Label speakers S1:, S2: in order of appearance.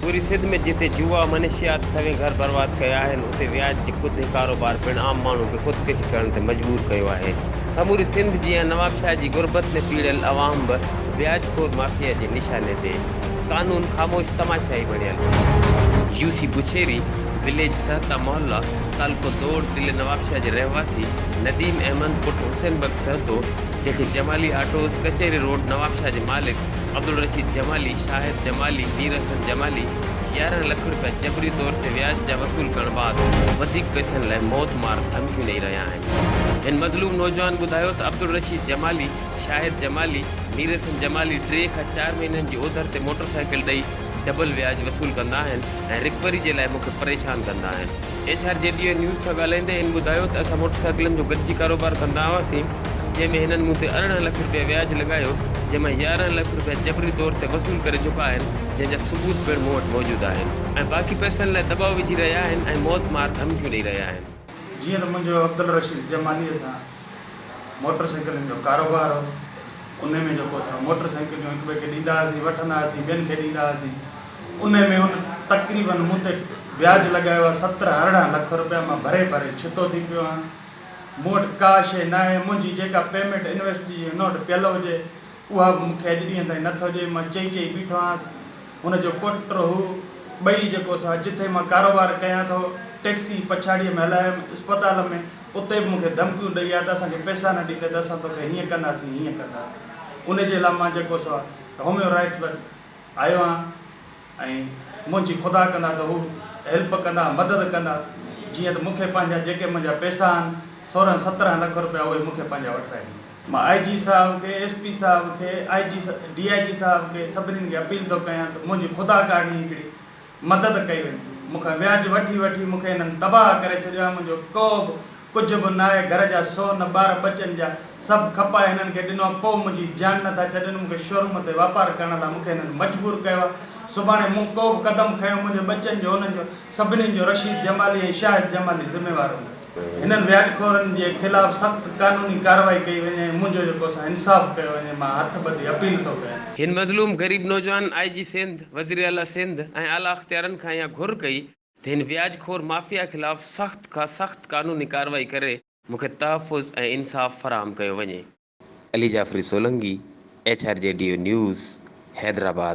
S1: پوري سنڌ ۾ جتي جوا منشيات سوين گهر برباد ڪيا آهن اتي وياج جي ڪڌي ڪاروبار پڻ عام ماڻهو کي خودڪشي ڪرڻ تي مجبور ڪيو آهي. سموري سنڌ جيان نوابشاهه جي غربت ۾ پيڙهيل عوام به وياج خور مافيا جي نشاني تي. قانون خاموش تماشائي بڻيل. يوسي بڇيري، وليج سهتا محلا. تعلقو دور ضلعي نوابشاهه جي رهواسي نديم احمد پٽ حسين بخش سهتو جنهن کي جمالي آٽوز ڪچهري روڊ نوابشاهه جي مالڪ عبدالرشيد جمالي، شاهد جمالي، مير حسن جمالي يارهن لک رپيا جبري طور تي وياج جا وصول ڪرڻ بعد وڌيڪ پئسن لاء موت مار ڌمڪيون ڏئي رهيا آهن. هن مظلوم نوجوان ٻڌايو ته عبدالرشيد جمالي، شاهد جمالي، مير حسن جمالي ٽي کان چار مهينن جي اوڌر تي موٽرسائيڪل ڏئي، ڊبل وياج وصول ڪندا آهن ۽ رڪوري جي لاء مون کي پريشان ڪندا آهن. H R G D A news سان ڳالهائيندي هن ٻڌايو ته اسان موٽر سائيڪلن جو گڏجي ڪاروبار ڪندا هئاسين جنهن ۾ هنن مون تي ارڙهن لک رپيا وياج لڳايو جنهن مان يارهن لک رپيا جبري طور تي وصول ڪري چڪا آهن جنهن جا ثبوت پڻ مون وٽ موجود آهن ۽ باقي پئسن لاء دٻاء وجهي رهيا آهن ۽ موت مار ڌمڪيون ڏئي رهيا آهن. جيئن ته منهنجو
S2: عبدالرشيد جماليء سان موٽر سائيڪلن جو ڪاروبار هو انهي ۾ جيڪو اسان موٽر سائيڪليون هڪ ٻئي کي ڏيندا هئاسين وٺندا هئاسين ٻين کي ڏيندا هئاسين انهي ۾ هن تقريبن مون تي وياج لڳايو آهي سترهن ارڙهن لک روپيا مان ڀري ڀري ڇتو ٿي پيو آهيان مون وٽ ڪا شيء ناهي منهنجي جيڪا پيمينٽ انويسٽ جي ان وٽ پيل هجي اها به مون کي اڄ ڏينهن تائين نه ٿو ڄي. مان چئي چئي بيٺو آهيانس. هن جو پٽ هو. ٻئي جيڪو سا جتي مان ڪاروبار ڪيان ٿو، ٽيڪسي پڇاڙيء ۾ هلايم، اسپتال ۾ اتي به مون کي ڌمڪيون ڏئي آيو ته اسان کي پئسا نه ڏيندين ته اسان توکي هيئن ڪنداسين، هيئن ڪنداسين. ان جي لاء مان جيڪو سا هوميو رائيٽ وٽ آيو آهيان. ۽ منهنجي خدا ڪندا ته هو هيلپ ڪندا مدد ڪندا جيئن ته مونکي پنهنجا جيڪي منهنجا پيسا آهن سورهن سترهن لک روپيا اهي مونکي پنهنجا وٺرائي ڏيندا. مان آء جي صاحب کي ايس پي صاحب کي آء جي ڊي آء جي صاحب کي سڀنين کي اپيل ٿو ڪيان ته منهنجي خدا ڪاڻي هڪڙي مدد ڪئي وڃي مونکان وياج وٺي وٺي مونکي هنن تباهه ڪري ڇڏيو آهي منهنجو ڪوبه ڪجهه به ناهي گهر جا سو نه ٻار ٻچن جا سڀ کپائي هنن کي ڏنو آ پوء منهنجي جان نه ٿا ڇڏن مون کي شوروم تي واپار ڪرڻ لاء مون کي هنن مجبور ڪيو آ سڀاڻي مون ڪو به قدم کنيو منهنجي ٻچن جو انهن جو سڀني جو رشيد جمالي ۽ شاهد جمالي ذميوار هوندا. هنن وياج خورن جي خلاف سخت قانوني ڪارروائي ڪئي وڃي ۽ منهنجو جيڪو سا انصاف ڪيو وڃي مان هٿ ٻڌي اپيل ٿو ڪيان. هن مظلوم غريب
S1: نوجوان آء جي سنڌ، وزيراعليٰ سنڌ ۽ اعليٰ اختيارن کان اها گهر ڪئي، هن وياج خور مافيا خلاف سخت کان سخت قانوني ڪارروائي ڪري مون کي تحفظ ۽ انصاف فراهم ڪيو وڃي. Ali Jafri Solangi, H R G D O news, Hyderabad.